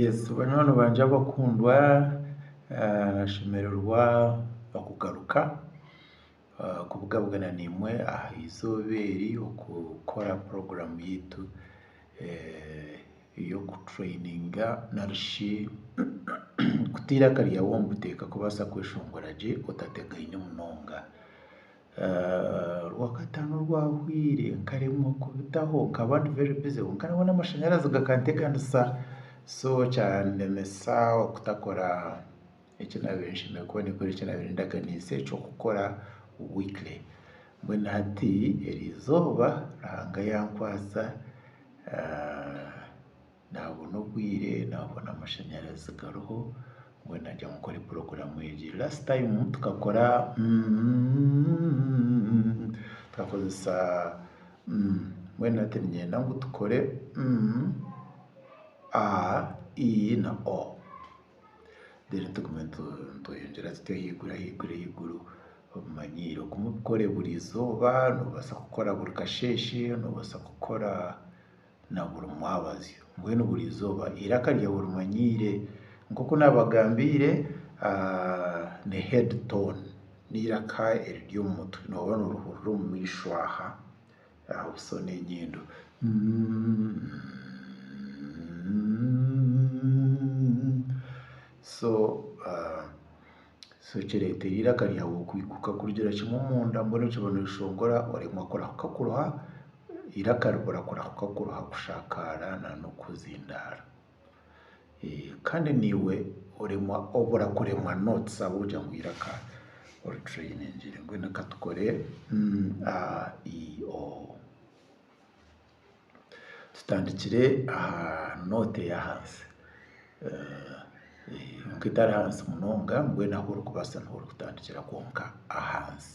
Yesu banywani bangye abakundwa nashemererwa okugaruka kubugabugana naimwe aha eizooba eri okukora puroguramu yaitu ey'okutureyininga narishi kutayo eiraka ryawe omu buteeka kubaasa kweshongora gye otategaine munonga. Rwakataano rwahweire nkaremwa kubitaho nkaba ndi very busy kwonka nabona amashanyarazi gakanteganisa so kyanemesa okutakora eki nabaire nshemereire kuba ninkora eki nabaire ndaganiise eky'okukora weekly. Mbwenu hati erizooba Ruhanga yankwasa. naabona obwire naabona amashanyarazi gariho mbwenu nagira ngu nkore puroguramu egi. Last time tukakora tukakozesa mbwenu hati niinyenda ngu tukore a, i na o then tugume nitweyongyera tutyo ahaiguru ahaiguru ahaiguru obimanyiire. Ogume obikore buri izooba, noobaasa kukora buri kasheeshe, noobaasa kukora. na buri mwabazyo. Mbwenu buri izooba eiraka ryaawe orimanyiire. Nk'oku naabagambiire, ni head tone, n'eiraka eriri omu mutwe. Nooba noorihurira omu maisho aha, aha buso n'enyindo. So. So kireetera eiraka ryawe okuhiguka kurugira kimwe omunda mbwenu kiba nikishongora oremwa kurahuka kuruha, eiraka ribura kurahuka kuruha kushakaara nana okuzindaara. Kandi naiwe oremwa obura kuremwa notes ahabw'okugira ngu eiraka oritureyiningire. Mbwenu ka tukore, a, i, o. Tutandikire aha noote ey'ahansi kwonka etari hansi munonga mbwenu ahu orikubaasa niho orikutandikira kwonka ahansi.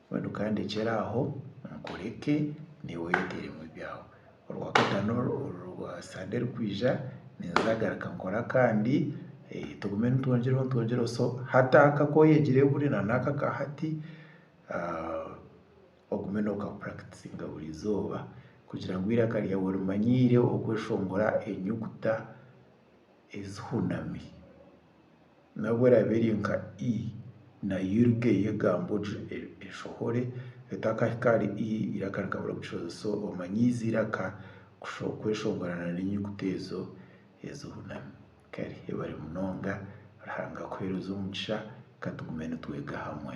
Mbwenu ka ndekyere aho nkureke niiwe oyeteeremu ebyaawe. Orwakataano orwa sande erikwija ninzagaruka nkore akandi tugume nitwongyereho nitwongyereho so hati aka ku oyegire buri na n'aka ka hati ogume nookapuratisinga buri izooba kugira ngu eiraka ryaawe orimanyiire okweshongora enyuguta. ezihunami nabwo eraabe eri nka i na yurga ey'egambo gye eshohore etakahika ahari i eiraka rikaba rikukishohoza. So omanyiize eiraka kweshongorana n'enyuguta ezo ezihunami. Kare yebare munonga Ruhanga akuheereze omugisha ka tugume nitwega hamwe.